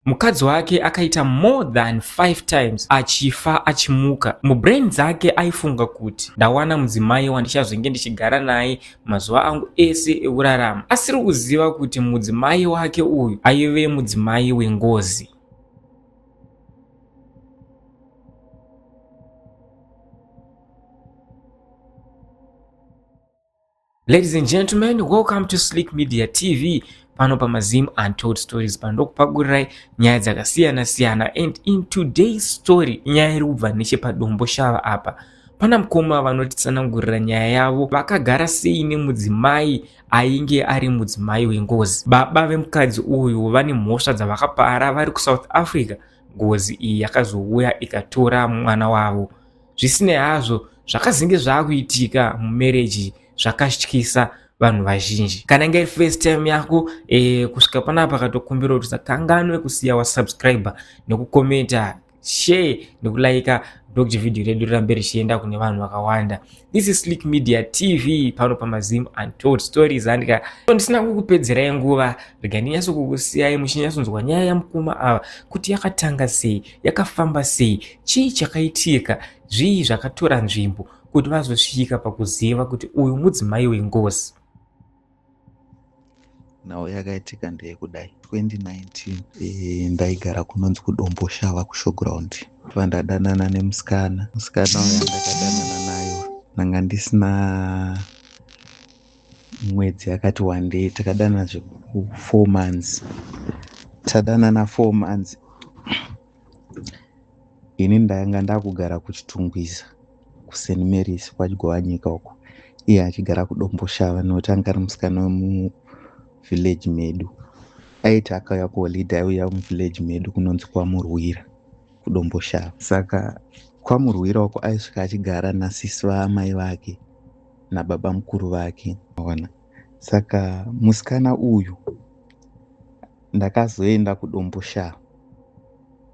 mukadzi wake akaita more than 5 times achifa achimuka mubrain dzake aifunga kuti ndawana mudzimai wandichazenge ndichigara naye mazuva angu ese ekurarama asiri kuziva kuti mudzimai wake uyu aive mudzimai wengozi Ladies and gentlemen, welcome to Slick Media TV. Pano pa Mazim Untold Stories pandokupagurirai nyaya dzakasiyana siyana and in today's story nyaya iri kubva nechepadombo shava apa pana mukoma vanotitsanangurira nyaya yavo vakagara sei nemudzimai ainge ari mudzimai wengozi baba vemukadzi uyu vane mhosva dzavakapara vari kusouth africa ngozi iyi yakazouya ikatora mwana wavo zvisinei hazvo zvakazenge zvaakuitika mumereji zvakatyisa vanhu vazhinji kana inge iri first time yako e, kusvika panapa katokumbira kuti usakanganwe kusiya wasubscribe nekukomenta share nekulaika ndokuti vhidhiyo redu rirambe richienda kune vanhu vakawanda this is slick media tv pano pamazim untold stories andika ndisina kukupedzerai nguva rega ndinyatso kukusiyai muchinyatsonzwa nyaya yamukuma ava kuti yakatanga sei yakafamba sei chii chakaitika zvii zvakatora nzvimbo kuti vazosvika pakuziva kuti uyu mudzimai wengozi nhau yakaitika ndeyekudai 2019 e, ndaigara kunonzi kudomboshava kushowground fa ndadanana nemusikana musikana uya ndakadanana nayo ndanga ndisina mwedzi yakati wandei takadana zveku four months tadanana four months ini ndanga ndakugara kuchitungwiza kusen marys kwagovanyika uko iye achigara kudomboshava nokuti anga ari musikana wemuvillage medu aiti akauya kuholide aiuya muvillage medu kunonzi kwamurwira kudomboshava saka kwamurwira uko aisvika achigara nasisi vaamai vake nababa mukuru vake ona saka musikana uyu ndakazoenda kudombo shaa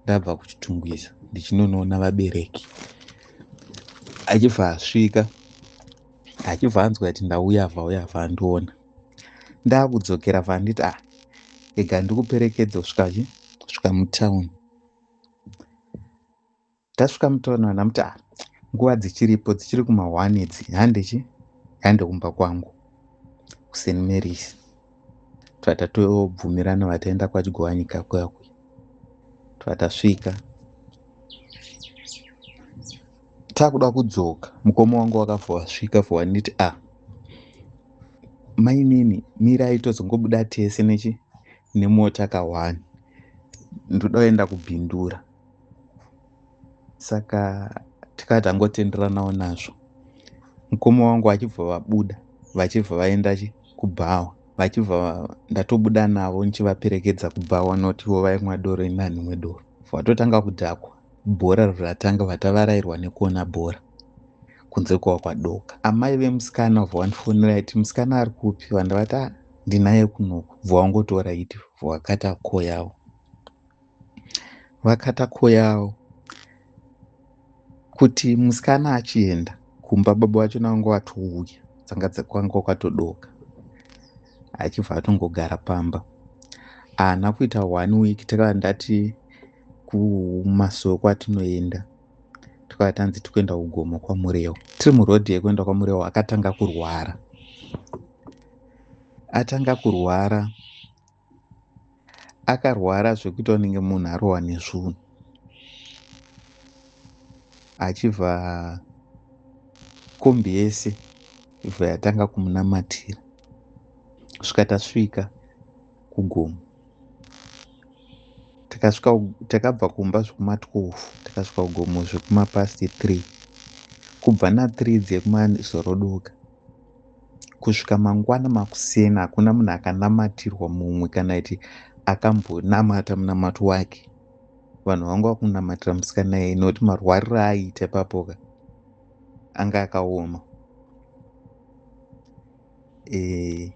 ndabva kuchitungwiza ndichinonoona vabereki achibva asvika achibva anzwa kuti ndauya vauya vandiona ndakudzokera vanditi a ah, ega ndikuperekedza kusvika kusvika mutown Tasvika mutown vana mutara. Nguva dzichiripo dzichiri kuma one idzi handichi hande kumba kwangu kuseni Marys twatatobvumirana vataenda kwachigovanyika kuya kuya twatasvika takuda kudzoka mukoma wangu wakavasvika for waniti a ah, mainini mirai tozongobuda tese nechi nemota kawani ndoda kuenda kubhindura saka tikati tangotenderanawo nazvo mukoma wangu vachibva vabuda vachibva vaenda kubhawa vachibva ndatobuda navo ndichivaperekedza kubhawa not ivo vaimwa doro inani imwe doro vatotanga kudhakwa bhora ratanga vatavarairwa nekuona bhora kunze kwava kwadoka amai vemusikana vobva vandifonera iti musikana ari kupi vandavati ah, ndinaye kunoku bva wangotora iti vhakata ko yavo vakata koyawo kuti musikana achienda kumba baba vacho navanga vatouya dzanga kwanga kwakatodoka achibva atongogara pamba haana kuita one week takava ndati kumasowe kwatinoenda tikava tanzi tikuenda kugomo kwamurewo tiri murodhi yekuenda kwamurewo akatanga kurwara atanga kurwara akarwara zvekuti anenge munhu arohwa nezvunhu achibva kombi yese ibva yatanga kumunamatira svika tasvika kugomo takasvika takabva kumba zvekuma 12 takasvika kugomo zvekuma past 3 kubva na 3 dzekumazorodoka kusvika mangwana makuseni hakuna munhu akanamatirwa mumwe kana kuti akambonamata munamato wake vanhu vanga vakunamatira musikana yeye nokuti marwariro aaiita ipapoka anga akaoma e,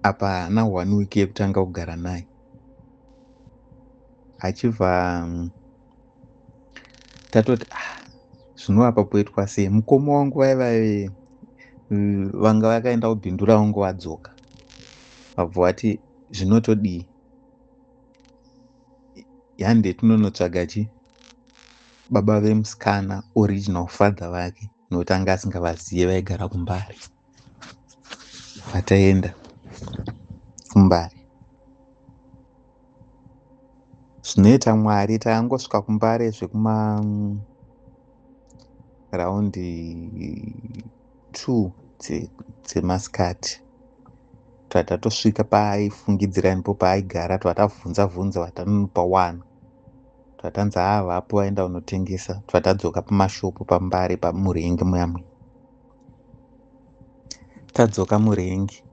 apa haana one week yekutanga kugara naye achibva mm, tatoti ah, zvino apa poitwa sei mukoma wangu vai vaive mm, vanga vakaenda kubindu ravo ngo vadzoka vabva vati zvinotodii yande tinonotsvaga chi baba vemusikana original father vake nokuti anga asingavazive vaigara kumbare vataenda kumbare zvinoita mwari tangosvika kumbare zvekuma mm, raundi two dzemasikati dze twatatosvika paaifungidzira ndipo paaigara twatabvunza bvunza vatanopa one Twatanzi haa vapuwa enda unotengesa twatadzoka pamashopu pambare pamurengi muyamwe tadzoka murengi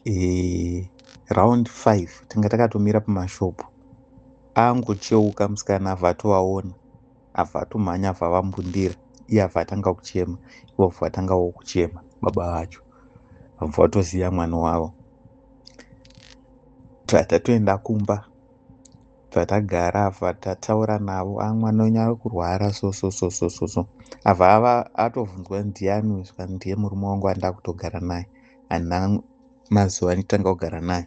e, round 5 tanga takatomira pamashopu angocheuka musikana avatovaona avatomhanya avavambundira iye avatanga kuchema ivo vatanga wo kuchema baba vacho vatoziva mwana wavo tatatoenda kumba Patagara apa tataura navo amwa nonya kurwara so so so so so so ava ava atovunzwa ndiani saka ndiye murume wangu andava kutogara naye handina mazuva nditanga kugara naye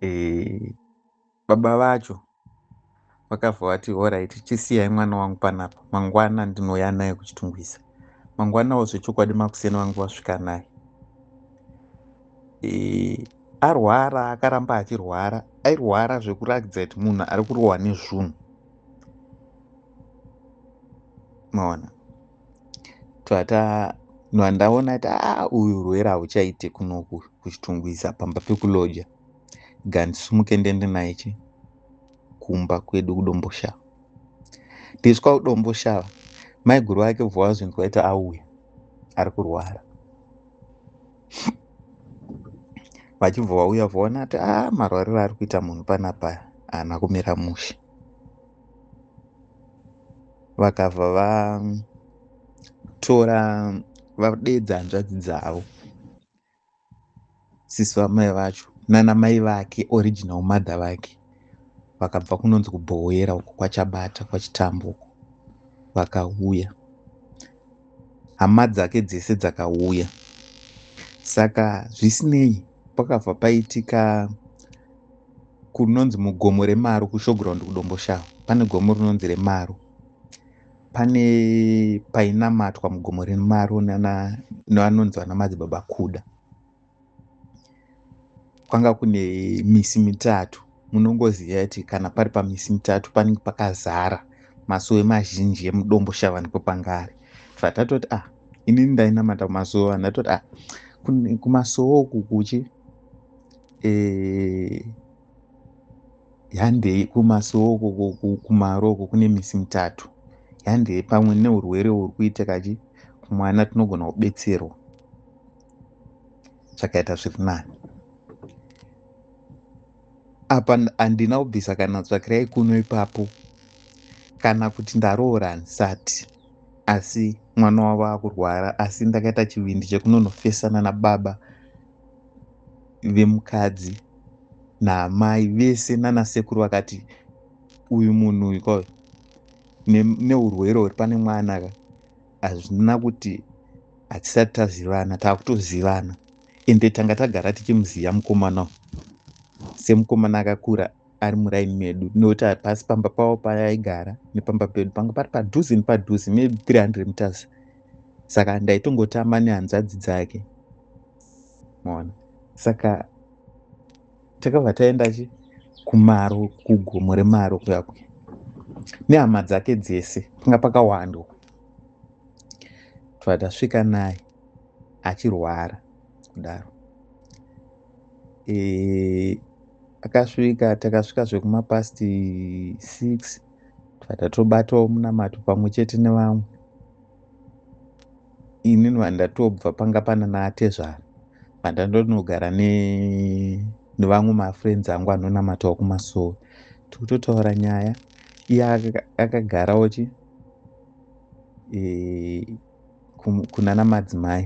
e, baba vacho vakabva vati horaiti chisiyai mwana wangu panapa mangwana ndinouya naye kuchitungwiza mangwanawo zvechokwadi makuseni vangu vasvika naye e, arwara akaramba achirwara airwara zvekurakidza kuti munhu ari kurohwa nezvunhu maona twata vandaona kuti a uyu urwere hauchaite kunoku kuchitungwiza pamba pekuloja gandisumuke ndende naye chi kumba kwedu kudomboshava tisu kwakudomboshava maiguru vake bva vazvinzi vaiti auya ari kurwara vachibva vauya vaona kuti a ah, marwariro ari kuita munhu panapaya haana kumira mushe vakabva vatora vadeedza hanzvadzi dzavo sisi vamai vacho nana mai vake original mother vake vakabva kunonzi kubhowera uko kwachabata kwachitambo uko vakauya hama dzake dzese dzakauya saka zvisinei pakabva paitika kunonzi mugomo remaro kushowground kudomboshava pane gomo rinonzi remaro pane painamatwa mugomo remaro nevanonzi vana madzibaba kuda kwanga kune misi mitatu munongoziva kuti kana pari pamisi mitatu panenge pakazara masowe mazhinji emudombo shavani kwepangari fatatoti ah inini ndainamata kumasowe vanhu atoti ah kumasowe uku kuchi eh, handei kumasowo kumaro uko kune misi mitatu handei pamwe neurwere uri kuita kachi mwana tinogona kubetserwa zvakaita zviri nani apa handina kubvisa kana tsvakirai kuno ipapo kana kuti ndaroora handisati asi mwana wavo akurwara asi ndakaita chivindi chekunonofesana nababa vemukadzi naamai vese nana sekuru vakati uyu munhu uyu kwavo neurwere huri pane mwana ka hazvina kuti hatisati tazivana taakutozivana ende tanga tagara tichimuziva mukomana semukomana akakura ari muraini medu nekuti pasi pamba pavo paaigara nepamba pedu panga pari padhuze nepadhuze maybe 300 meters saka ndaitongotamba nehanzvadzi dzake maona saka takabva taenda chi kumaro kugomo remaro kuyakwe nehama dzake dzese panga pakawandwa tvatasvika naye achirwara kudaro e, akasvika takasvika zvekumapast six tibata tobatawo munamato pamwe chete nevamwe ini vandatobva panga pana naatezvara vandandonogara nevamwe mafriends angu anonamatawo kumasowe tikutotaura nyaya iye akagarawo chi e, kunana madzimai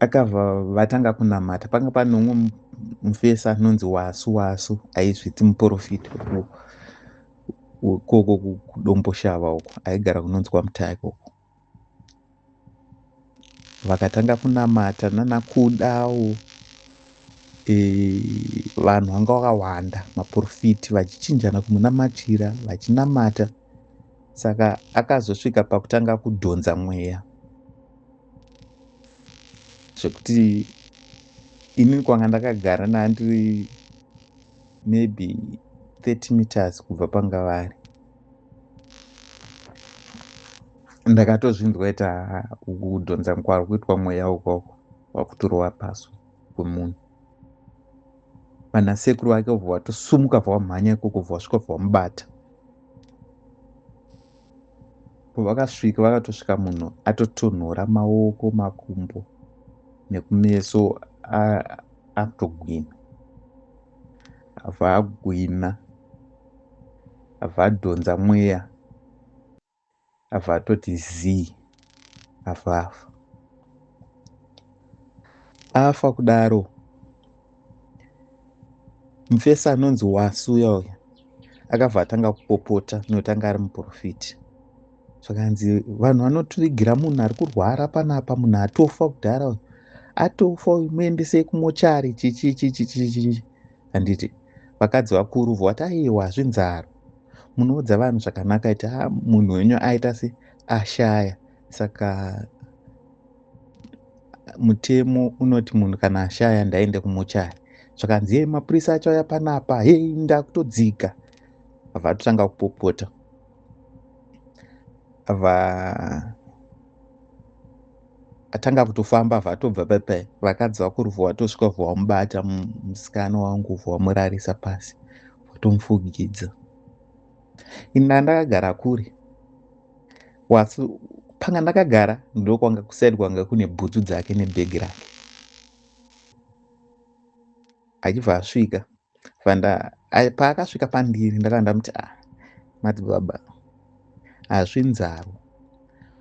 akabva vatanga kunamata panga pane umwe mufesi anonzi wasu wasu aizviti muprofiti ukoko kudomboshava uko aigara kunonzi kwamutaya ikoko vakatanga kunamata nanakudawo e, vanhu vanga vakawanda maprofiti vachichinjana kumunamatira vachinamata saka akazosvika pakutanga kudhonza mweya zvekuti ini kwanga ndakagara nandiri maybe 30 meters kubva panga vari ndakatozvinzwa ita kudhonza kwari kuitwa mweya ukoko wakuturova paso kwemunhu vanasekuru vake vobva vatosumuka vavamhanya ikoko vovasvika vavamubata pavakasvika vakatosvika munhu atotonhora maoko makumbo nekumeso atogwina abva agwina abva adhonza mweya Ava atoti zii afa afa afa kudaro mufesi anonzi wasuya uya akabva atanga kupopota nokuti anga ari muprofiti zvakanzi vanhu vanotivigira munhu ari kurwara panapa munhu atofa kudhara uyu atofa uyu muendesei kumochari chichichichichichichi handiti vakadzi vakuru voti aiwa hazvinzaro munoudza vanhu zvakanaka iti ha munhu wenyu aita se ashaya saka mutemo unoti munhu kana ashaya ndaende kumuchari zvakanzi yei mapurisa acho aya panapa hei ndakutodzika abva atotanga kupopota abva atanga kutofamba abva atobva pepe vakadzi vakuruvhu watosvika vhu wamubata musikana wangu vhu wamurarisa pasi watomufugidza ini ndandakagara kure wasi panga ndakagara ndokwanga kusaidi kwanga kune bhutsu dzake nebhegi rake achibva asvika vanda paakasvika pandiri ndakanda muti a ah, madzibaba hazvi nzaro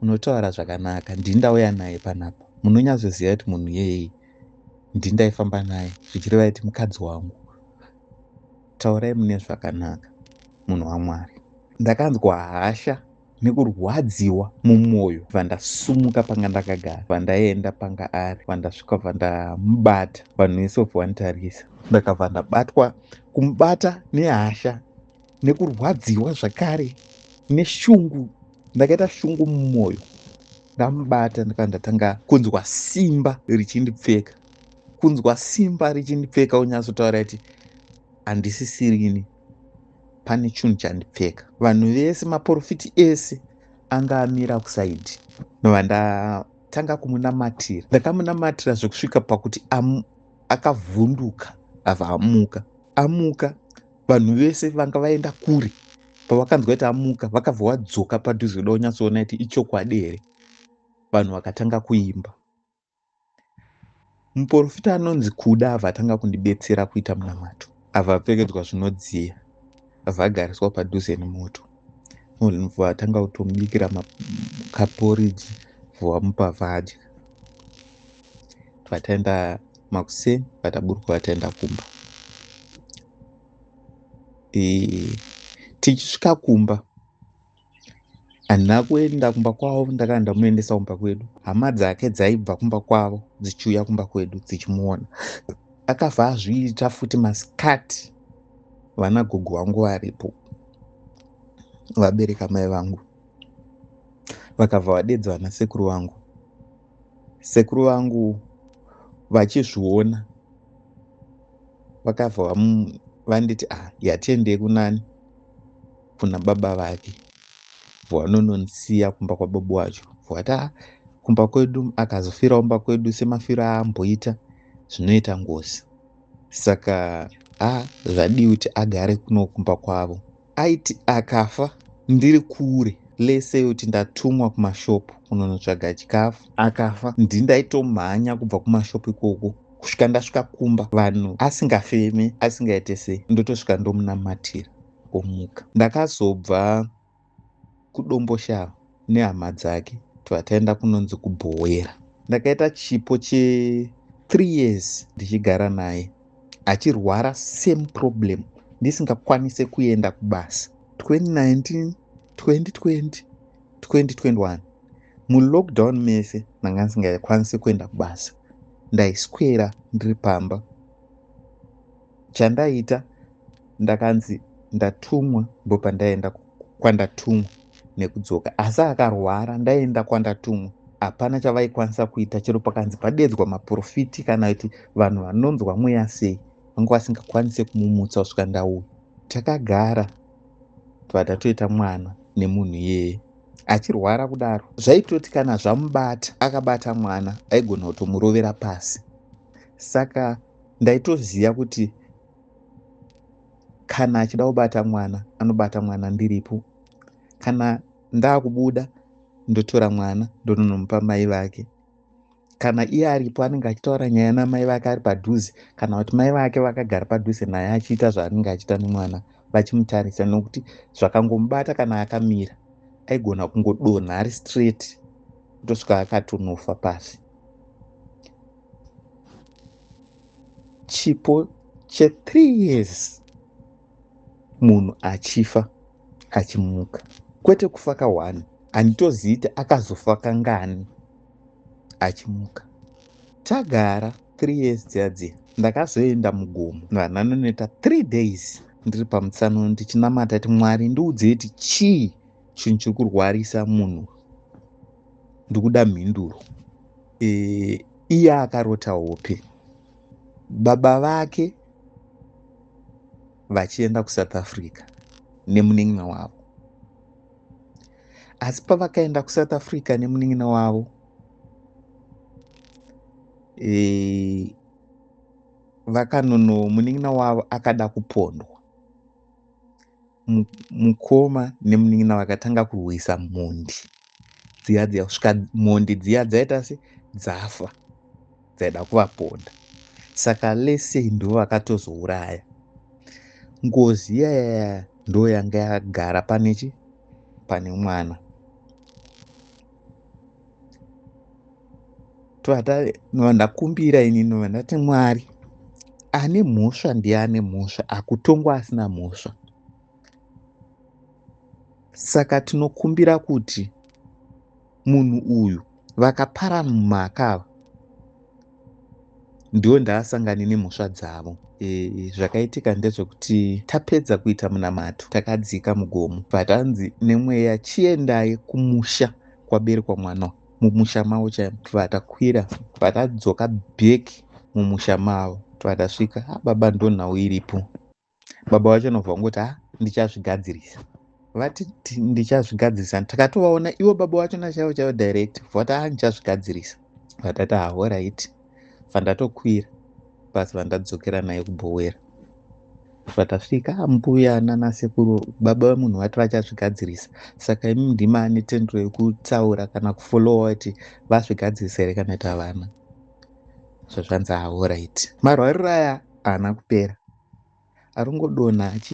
unotaura zvakanaka ndini ndauya naye panapa munonyatsoziva kuti munhu yeyei ndini ndaifamba naye zvichireva kuti mukadzi wangu Taurai mune zvakanaka munhu waMwari. Ndakanzwa hasha nekurwadziwa mumwoyo bva ndasumuka panga ndakagara bva ndaenda panga ari bva ndasvika bva ndamubata vanhu vese vobva vanditarisa ndakabva ndabatwa kumubata nehasha nekurwadziwa zvakare neshungu ndakaita shungu mumwoyo ndamubata ndikabva ndatanga kunzwa simba richindipfeka kunzwa simba richindipfeka unyatsotaura kuti handisisirini pane chunhu chandipfeka vanhu vese maporofiti ese anga amira kusaidi nova ndatanga kumunamatira ndakamunamatira zvekusvika pakuti akavhunduka ava amuka amuka vanhu vese vanga vaenda kure pavakanzwa kuti amuka vakabva vadzoka padhuze kuda kunyatsoona kuti ichokwadi here vanhu vakatanga kuimba Muporofita anonzi Kuda ava atanga kundibetsera kuita munamato. Ava apfekedzwa zvinodziya. Ava agariswa padhuze nemoto. Munhu atanga kutomubikira kaporiji vamupa vadya. Vataenda makuseni vataburuka vataenda kumba. Tichisvika kumba handina kuenda kumba kwavo ndakanga ndamuendesa kumba kwedu hama dzake dzaibva kumba kwavo dzichiuya kumba kwedu dzichimuona akabva azviita futi masikati vana gogo vangu varipo vabereka mai vangu vakabva vadedza vana sekuru vangu sekuru vangu vachizviona vakabva vanditi ah yatiendei kunani kuna baba vake vwanononsiya kumba kwababa wacho vwata kumba kwedu akazofirawo mba kwedu semafiro aamboita zvinoita ngozi saka a zvadii kuti agare kuno kumba kwavo aiti akafa ndiri kure lese kuti ndatumwa kumashopu kunonotsvaga chikafu akafa ndi ndaitomhanya kubva kumashopu ikoko kusvika ndasvika kumba vanhu asingafeme asingaite sei ndotosvika ndomunamatira omuka. Ndakazobva kuDomboshava nehama dzake tibva taenda kunonzi kuBhowera. Ndakaita chipo che three years ndichigara naye achirwara same problem ndisingakwanise kuenda kubasa 2019 2020 2021 mulockdown mese ndanga ndisingakwanise kuenda kubasa ndaiswera ndiri pamba chandaita ndakanzi ndatumwa ndopandaenda kwandatumwa nekudzoka asi akarwara ndaenda kwandatumwa hapana chavaikwanisa kuita chero pakanzi padeedzwa maprofiti kana kuti vanhu vanonzwa mweya sei vanga vasingakwanise kumumutsa kusvika ndauya takagara tobva tatoita mwana nemunhu iyeye achirwara kudaro zvaitoti kana zvamubata akabata mwana aigona kutomurovera pasi saka ndaitoziva kuti kana achida kubata mwana anobata mwana ndiripo kana ndaakubuda ndotora mwana ndononomupa mai vake kana iye aripo anenge achitaura nyaya namai vake ari padhuze kana kuti mai vake vakagara padhuze naye achiita zvaanenge achiita nemwana vachimutarisa nokuti zvakangomubata kana akamira aigona kungodonha ari straight kutosvika akatonofa pasi chipo che three years munhu achifa achimuka kwete kufa ka one handitozivi kuti akazofa kangani achimuka tagara three years dziya dziya ndakazoenda mugomo vananonoita three days ndiri pamutsano ndichinamata ti mwari ndiudzei ti chii chinhu chiri kurwarisa munhu ndikuda mhinduro e, iye akarota hope baba vake vachienda kusouth africa nemunin'ina wavo asi pavakaenda kusouth africa nemunin'ina wavo e, vakanono munin'ina wavo akada kupondwa mukoma nemunin'ina vakatanga kurwisa mhondi dziya dziya kusvika mhondi dziya dzaita se dzafa dzaida kuvaponda saka lese ndo vakatozouraya ngozi iyayaya ndo yanga yagara pane chi pane mwana ndakumbira ini nova ndati mwari ane mhosva ndiye ane mhosva akutongwa asina mhosva saka tinokumbira kuti munhu uyu vakapara mumaka ava ndiwo ndaasangani nemhosva dzavo e, zvakaitika ndezvekuti tapedza kuita munamato takadzika mugomo but hanzi nemweya chiendai kumusha kwaberekwa mwana mumusha mavo chaimo tibva takwira tibva tadzoka back mumusha mavo tibva tasvika ah, baba ndonhau iripo baba vacho vanobva vangoti ha ndichazvigadzirisa vati ndichazvigadzirisa takatovaona ivo baba vacho nachaivo chaivo direct vati ha ndichazvigadzirisa vatati ha orit vandatokwira basi vandadzokera naye kubhowera vatasvika mbuya nanasekuru baba vemunhu vati vachazvigadzirisa saka imi ndima ane tendero yekutaura kana kufolowa kuti vazvigadzirisa here kana kuti havana zvazvanzi ahoraiti marwariro aya haana kupera aringodonha achi